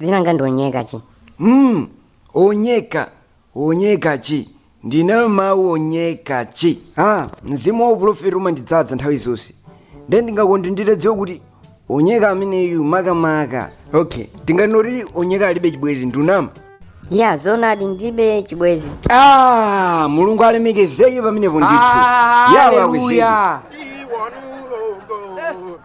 dzina langa ndi onyeka chi mm, onyeka onyeka chi ndina mawu onyeka chi ah, mzimu wa uprofeti umandidzadza nthawi zonse nde ndingakonde nditadziwa kuti onyeka ameneyu makamaka okay tinganene kuti onyeka alibe chibwezi ndikunama ya zoonadi ndilibe chibwezi ah, mulungu alemekezeke pamenepo ndithu Ah, yawe hallelujah. akuziwa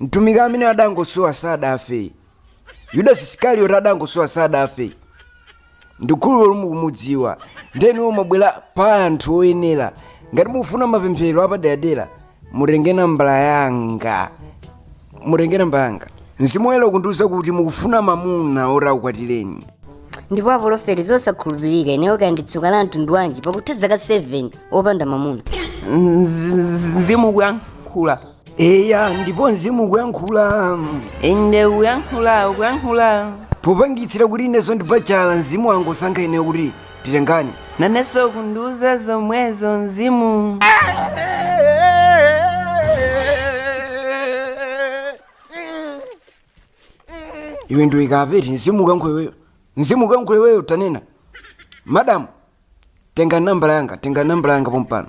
mtumiki amene adangosowa sadafe yudasi isikarioti adangosowa sadafe ndikhulupirira kuti mukumudziwa nde inuyo mwabwera pa anthu oyenera ngati mukufuna mapemphero apaderadera mutenge nambala yanga mutenge nambala yanga mzimu woyera ukundiwuza kuti mukufuna mamuna oti akukwatireni ndipo apolofeti zosakhulupirika ineyo kaya ndi tsoka la mtundu wanji pakutha zaka 7 opanda mamuna mzimu kuyankhula eya ndipo mzimu ukuyankhula inde ukuyankhula ukuyankhula popanikitsira kuti ineso ndi bachala mzimu wangosankha ineyo kuti titengane naneso kundiuza zomwezo mzimu iwe ndiyike pati mzimu ukuyankhula iweyo mzimu ukuyankhula iweyo tanena madamu tenga nambala yanga tenga nambala yanga pompano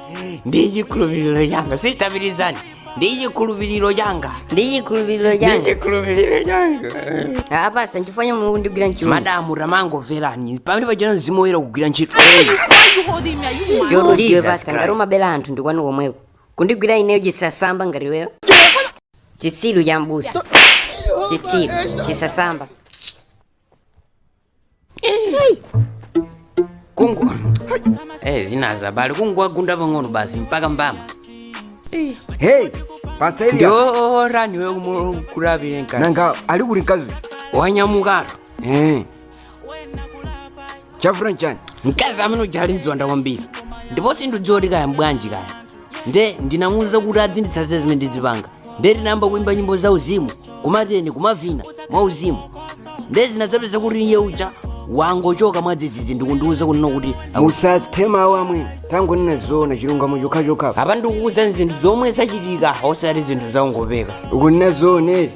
ndi chikhulupiriro changa sitabilizani ndi chikhulupiriro changa ndi chikhulupiriro ndi changa chikhulupiriro changa apasa nchifanya mulungu ndigwira ntchito madamu tamangomverani pamene pachona mzimu woyera kugwira ntchito yoti iwe basa ngati umabera anthu ndikwanu komweko kundigwira ineyo chisasamba ngati iweyo chitsiru cha mbusa chitsiru chisasamba kungu eh zinazi abale kungu wagunda pang'ono basi mpaka mbama hey pasailia ndio rani we kumurabire nkani nanga ali kuti nkazi wanyamukaro eh chafuna nchani mkazi amene uja ali ndi ziwanda kwambiri ndipo sindidziwa kuti kaya mbwanji kaya nde ndimafuna muuza kuti adzinditsanza zimene ndizipanga ndiye tinayamba kuimba nyimbo za uzimu kumateni kumavina mwa uzimu ndiye tinadzapeza kuti iye uja wangochoka mwadzidzidzi ndikundiuza kunena kuti musathe mawu amwene tangonenani zoona chilungamo chokhachokha apa ndikukuuza zinthu zomwe zachitika osati zinthu zongopeka ukunena zoona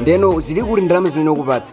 ndiyeno zili kuti ndalama zimene wakupatsa